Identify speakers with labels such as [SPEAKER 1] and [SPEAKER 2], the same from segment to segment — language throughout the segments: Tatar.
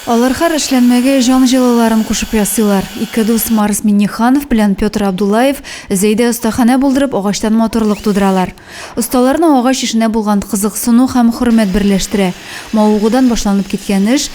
[SPEAKER 1] Алар хәр эшләнмәгә җан җылыларын кушып ясыйлар. Ике дус Марс Миннеханов белән Петр Абдуллаев Зәйдә остаханә булдырып агачлан матурлык тудыралар. Осталарны агач эшенә булган кызыксыну һәм хөрмәт берләштерә. Мавыгудан башланып киткән эш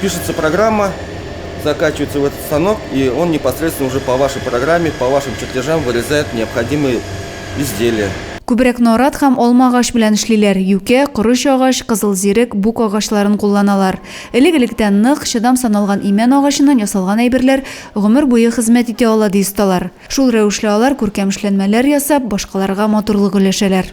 [SPEAKER 1] Пишется программа,
[SPEAKER 2] закачивается в этот станок, и он непосредственно уже по вашей программе, по вашим чертежам вырезает необходимые изделия. Күбрәк нарат
[SPEAKER 1] һәм алма агач белән эшлиләр, юкә, корыч агач, кызыл зирек, бук агачларын кулланалар. Элек-электән нык, чыдам саналган имән агачыннан ясалган әйберләр гомер буе хезмәт итә ала, ди осталар. Шул рәвешле алар күркәм эшләнмәләр ясап, башкаларга матурлык өләшәләр.